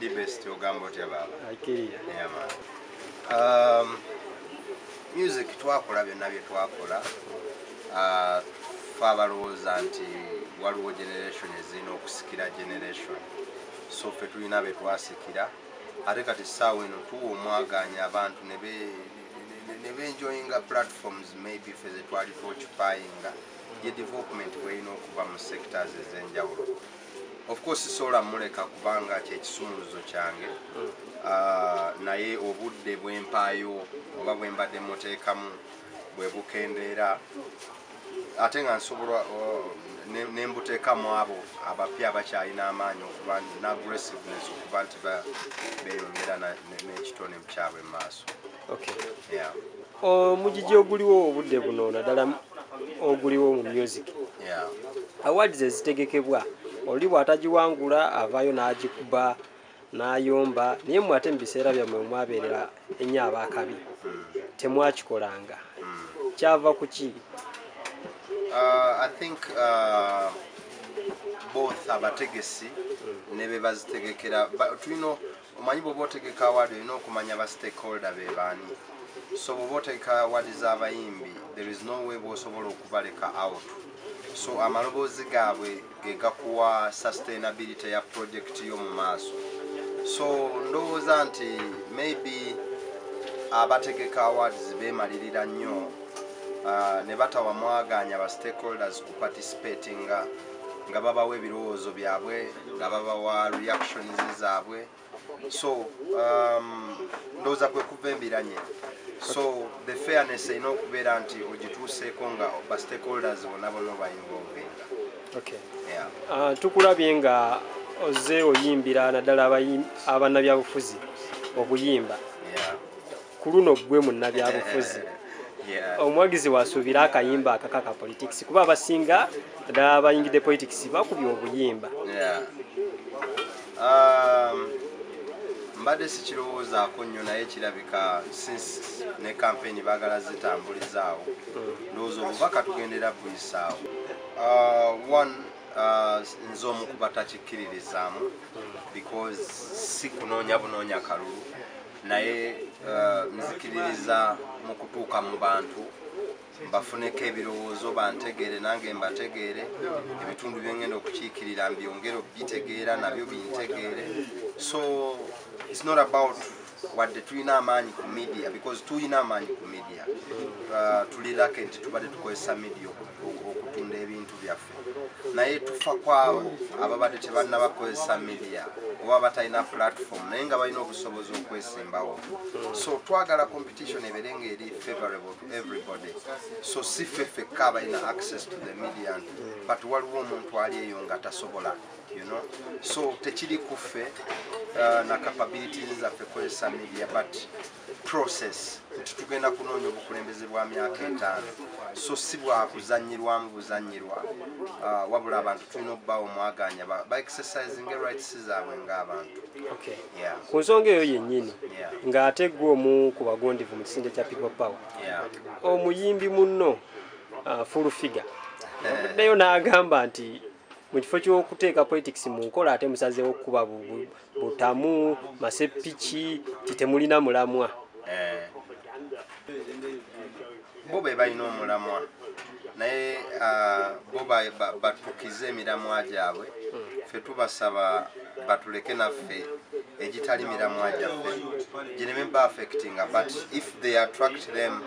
Ndi best ogamba otya baba. Akiriya. Yeah man. Um, music twakola byonna bye twakola. Uh, fa abalowooza nti waliwo generation ezirina okusikira generation. So fe tulina be twasikira. Ate kati saawa eno tuwa omwaganya abantu ne be ne be enjoying platforms maybe fe ze twali twokipayinga. Ye development bweyina okuba mu sectors ez'enjawulo. of course sisobola muleka kubanga kyekisumuluzo kyange hmm. ah, naye obudde bwempaayo oba bwembadde muteekamu bwebukendeera ate nga nsobola oh, nembuteekamu abo abapya abakyalina amaanyi okuba ne aggressiveness okuba nti beyongera n'ekitone kyabwe mu maaso omugigi oguliwo obudde buno naddala oguliwo mu music awards ezitegekebwa oli bw'atagiwangula avaayo n'agikuba n'ayomba naye mwe ate mu biseera byammwe omwabeerera ennyo abaakabi temwakikolanga kyava ku ki uh, uh, both abategesi ne be bazitegekera tulina omanyi bwoba otegeka award olina okumanya ba stakeholder be baani so bwoba otegeka award z'abayimbi there is no way bwosobola okubaleka out so amaloboozi gaabwe gegakuwa sustainability ya project yo mu maaso so ndowooza nti maybe abategeka awards bemalirira nnyo uh, ne batawa mwagaanya ba stakeholders ku participatinga nga babawa ebirowoozo byabwe nga babawa reactions zaabwe so um, ndowooza kwe kuva embiranye so the fairness erina okubeera nti ogituuseeko nga ba stakeholders bona bona obayinvolvinga ah, tukulabye nga oze oyimbira naddala abanabyabufuzi okuyimba ku luno ggwe munnabyabufuzi omuwagizi wasuubira akayimba akakaka politics kuba abasinga ddala bayingidde politics bakubye obuyimba um, mbadde sikirowoozaako nnyo naye kirabika since ne kampeyini baagala zitambulizaawo hmm. ndowooza obubaka tugendera buyisaawo uh, one Uh, nze omu kuba takikkiririzaamu because si kunoonya bunoonya kalulu naye uh, nzikiririza mu kutuuka mu bantu mbafuneko ebirowoozo bantegeere nange mbategeere ebitundu byengenda okukiikirira mbyongere okugitegeera nabyo bintegeere so its not about wadde tulina amaanyi ku media because tulina amaanyi ku media uh, tulirake nti tubadde tukozesa media okutunda ebintu byaffe naye tufa kwabo ababadde tebannaba kukozesa media oba batalina platform naye nga balina obusobozi okwesimbawo so twagala competition ebere nga eri favorable to everybody so si ffe fekka abalina access to the media but waliwo omuntu ali eyo nga tasobola you know so tekiri kuffe uh, na capabilities zaffe kozesa media but process nti tugenda kunoonya obukulembeze bwa myaka etaano so si bwakuzanyirwamu buzanyirwa ah, wabula abantu tulina okubawo mwaganya baexercising rights zaabwe ngaabantu ku nsonga eyo yennyini ng'ate gwe omu ku bagondivu mu kisinde kya people power omuyimbi munno ah, full figure avuddeyo n'agamba nti mu kifo ky'okuteeka politics mu nkola ate musazeewo okukuba butamu masepiki titemulina mulamwa eh. bo be balina omulamwa naye ah, bo batukize emiramwa gyabwe hmm. fe tubasaba batuleke naffe egitali miramwa gyaffe gireme ba affectinga but if they attract them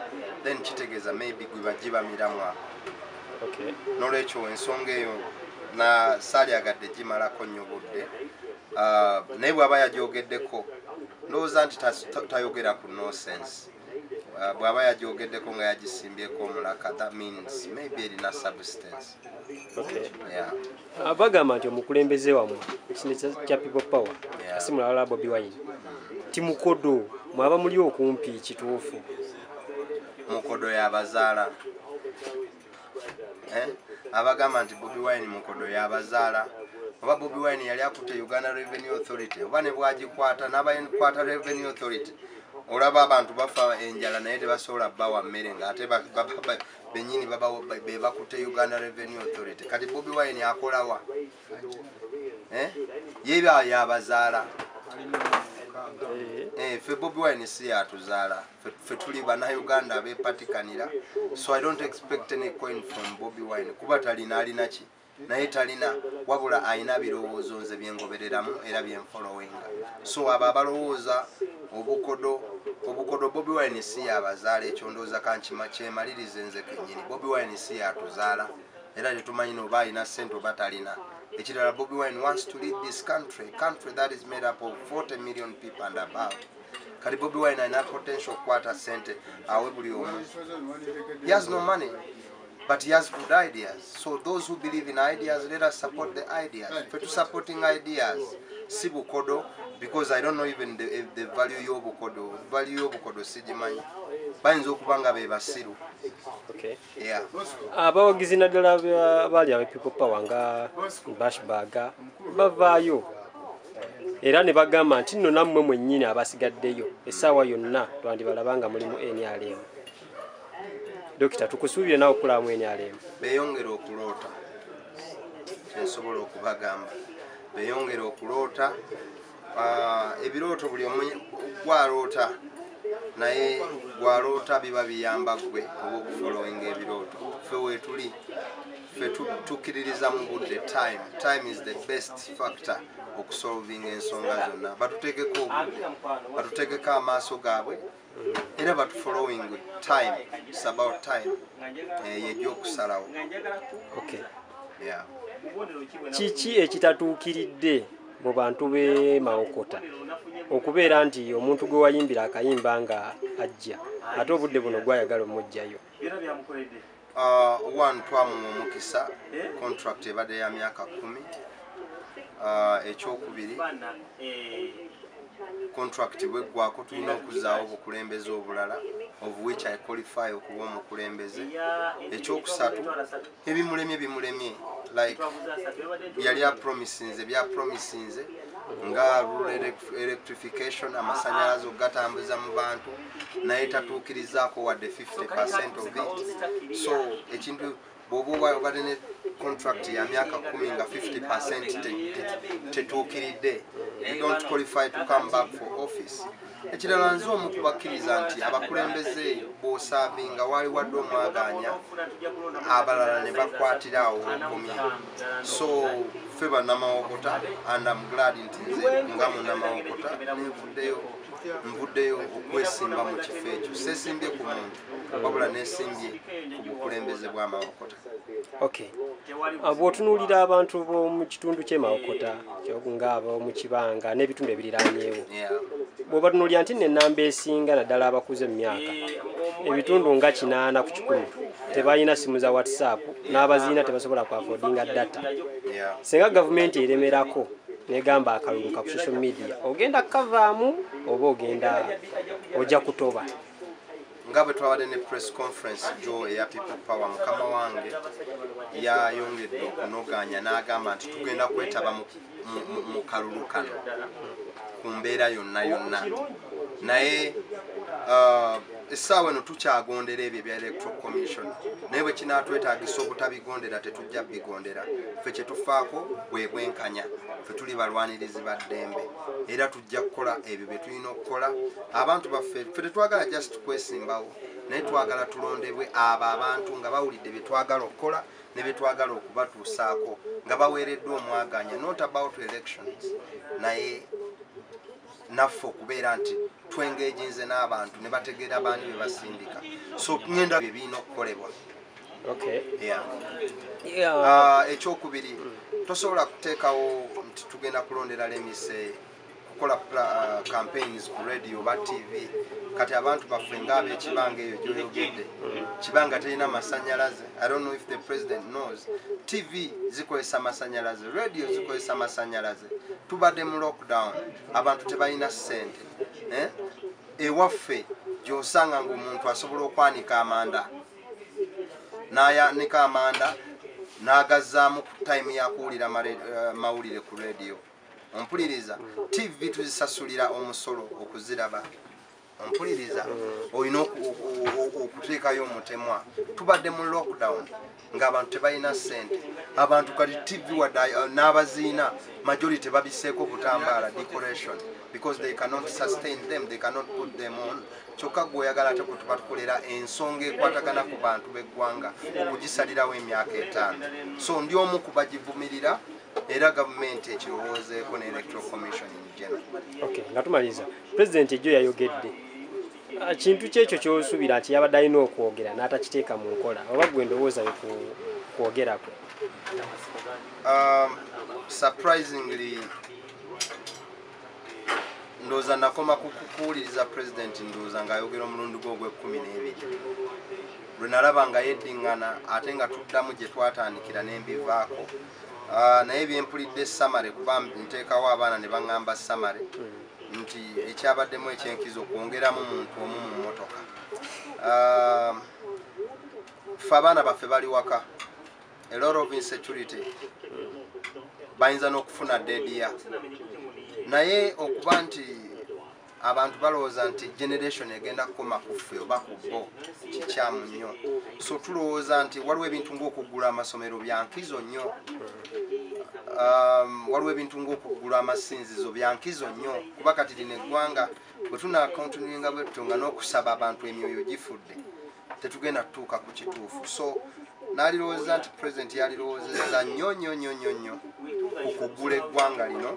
then kitegeeza maybe gwe bagiba miramwa nolwekyo ensonga eyo na salyagadde gimalako nnyo budde ah, naye bwaba yagyogeddeko ndowooza nti tayogera ku nosense ah, bwaba yagyogeddeko nga yagisimbyeko omulaka that means maybe erina substance ah, bagamba nti omukulembeze wamwe ekine kya people power asimulawala bobi wine timukodo mwaba muli okumpi kituufu mukodo yabazaala eh? abagamba nti bobi wine mukodo yabazaala oba bobi wine yali akutte uganda revenue authority oba ne bwagikwata n'abakwata revenue authority olaba abantu bafa enjala naye tebasobola bawa mmere ngaate benyini bebakutte uganda revenue authority kati bobi wine akolawa Eh? ye yabazaala eh, ffe bobi wine si yatuzaala ffe tuli banauganda abepatikanira so i don't expect any coin from bobi wine kuba talina alina ki naye talina wabula alina birowoozo nze byengobereramu era byenfolowinga so abo abalowooza obukodo obukodo bobi wine si yabazaala ekyondooza kankimakyemalirize nze kenyini bobi wine si yatuzaala era tetumanyi noba alina sente oba talina ekirala bobi wine wants to lead this country country that is made up of 40 million people and above kati bobi wine alina potential okukwata sente awe buli omu he has no money but he has good ideas so those who believe in ideas let us support the ideas fe tu supporting ideas si bukodo because i don't know even the, the value yobukodo value yobukodo sigimanyi bayinza okuba nga bebasiru okay. abawagizi naddala baali aba people power nga bashbaga bavaayo era ne bagamba nti nno nammwe mwennyini abasigaddeyo essaawa yonna twandibalaba nga muli mu nrm dokita tukusuubire nawe okulaba mu nrm beyongere okuloota kyensobola okubagamba beyongere okuloota Ah, ebirooto buli omu gwaloota naye gwaloota biba biyamba gwe oba okufolowinga ebirooto fe wetuli fe tukiririza mu budde time time is the best factor okusolvinga ensonga zonna batutegeko obudde batutegeko amaaso gaabwe era batu following time it's about time eh, yegyokusalawo okay. yeah. kiki ekitatuukiridde mu bantu be mawokota okubeera nti omuntu gwe wayimbira akayimba nga ajja ate obudde buno gwayagala omujjayo byona byamukoledde ah, one twamuwa omukisa eh? contract ebadde ya myaka kumi ah, ekyokubiri eh. contract bweggwako tulina okuzaawo obukulembeze obulala of which i qualify okuba omukulembeze ekyokusatu ebimulemye bimulemye like yali apromisinze byapromisinze nga electrification amasanyalaze okugatambuza mu bantu naye tatuukirizaako wadde 50 percent of it so ekintu bwoba oba obadde ne contract ya myaka kumi nga 50 percent tetuukiridde you don't qualify to come back for office ekirala nze omu kubakkiriza nti abakulembeze bwosaavinga waali wadde omwagaanya abalala ne bakwatira awo okomye so ffe banamawokota and am glad nti nze nga munamawokota nenvuddeyo nvuddeyo okwesimba mu kifo ekyo sesimbye ku muntu wabula nesimbye ku bukulembeze bwamawokota Ah, bwotunuulira abantu b'omu kitundu kyemawokota nga ab'omu kibanga n'ebitundu ebiriranyeewo bwebatunuulira nti nenamba esinga naddala abakuze mu myaka ebitundu nga kinaana ku kikumi tebalina simu za whatsapp n'abaziina tebasobola kwafodinga data singa gavumenti eremerako negamba akalulu ka ku social media ogenda kukavaamu oba ogenda ojja kutoba nga bwe twabadde ne press conference jo eya people power mukama wange yayongedde okunoganya n'agamba nti tugenda kwetaba mu kalulu kano ku mbeera yonna yonna naye uh, essaawa eno tukyagondera ebyo ebya electoral commission naye bwe kinaatwetagisa obutabigondera tetujja bigondera ffe kyetufaako bwe bwenkanya ffe tuli balwanirizi ba ddembe era tujja kukola ebyo bye tulina okukola abantu baffe fe tetwagala just kwesimbawo naye twagala tulondebwe abo abantu nga bawulidde bye twagala okukola ne bye twagala okubatuusaako nga baweereddwa omwaganya not about elections naye naffe okubeera nti twengeginze n'abantu ne bategeera baani bye basindika so ŋenda bye birina okukolebwa Ah, ekyokubiri tosobola kuteekawo nti tugenda kulondera lemise kukola ah, campaigns ku radio oba tv kati abantu baffe nga abekibanga eyo gyoyogedde kibanga terina masanyalaze i don't know if the president knows tv zikozesa masanyalaze radio zikozesa masanyalaze tubadde mu lockdown abantu tebalina ssente eh? ewaffe gyosanga ngaomuntu asobola okwanika amanda n'ayanika amanda n'agazzaamu ku tayimu ya kuwulira eh, mawulire ku rediyo ompuliriza tv tuzisasulira omusolo okuziraba ompuliriza olina okuteekayo omutemwa tubadde mu lockdown ngaabantu tebalina ssente abantu kati tv wada uh, n'abaziina majority babiseeko obutambaala decoration because they cannot sustain them they cannot put them on kyokka gwe oyagala ate kwetuba tukolera ensonga ekwatagana ku bantu b'eggwanga okugisalirawo emyaka etaano so ndi omu ku bagivumirira era gavumenti ekirowoozeeko ne electoral commission in general okay nga tumaliriza pulezidenti ejjo yayogedde ah, kintu kyekyo kyosuubira nti yabadde alina okwogera n'atakiteeka mu nkola oba gwe endowooza yo kwogerako um, surprisingly ndowooza nakoma kukuwuliriza pulezidenti ndowooza ng'ayogera omulundi gwe ogw'ekkumi n'ebiri lwe nalaba nga yeddiŋŋana ate nga tuddamu gye twatandikira ne mbivaako ah, naye byempulidde samare kuba nteekawo abaana ne baŋŋamba samare hmm. nti ekyabaddemu ekyenkizo kwongeramu muntu omu mu mmotoka ah, fe abaana baffe bali waka a lot of insecurity bayinza n'okufuna dedia naye okuba nti abantu balowooza nti generation egenda kukoma kuffe oba ku bo kikyamu nnyo so tulowooza nti waliwo ebintu ngaokuggula amasomero byankizo nnyo um, waliwo ebintu ngaokuggula amasinzizo byankizo nnyo kuba kati lino eggwanga bwe tunakontuninga bwetto nga n'okusaba abantu emyoyo gifudde tetugenda kutuuka ku kituufu so nalirowoza nti president yalirowoozeza nnyo nnyo nnyo nnyo nnyo okugula eggwanga lino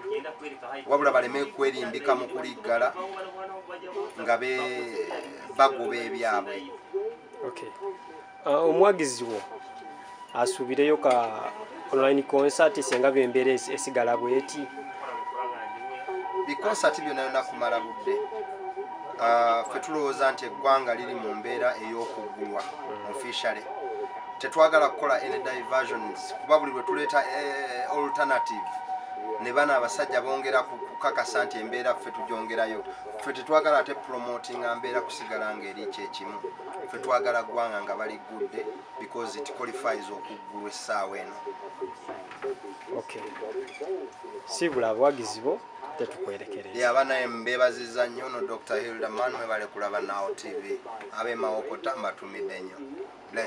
wabula baleme kwerimbika mu kuliggala nga bagoba ebyabwe uh, omwagizi wo asuubireyo ka online concert senga bembeera esigala bweti bikonsati byona yona kumala budde ah, fe tulowooza nti eggwanga liri mu mbeera ey'okuggulwa mm. officially tetwagala kukola any diversions kuba buli lwe tuleeta eh, alternative ne bana abasajja bongera kukakasa nti embeera ffe tugyongerayo ffe tetwagala ate promotinga mbeera kusigala ng'eri kyekimu ffe twagala ggwanga nga baliggudde because it qualifies okuggulwa essaawa eno okay sibula abawagizi bo tetukwerekereza yaba naye mbebaziza nnyo no dr hilderman mwebale kulaba nawo tv abemawokota mbatumidde nnyo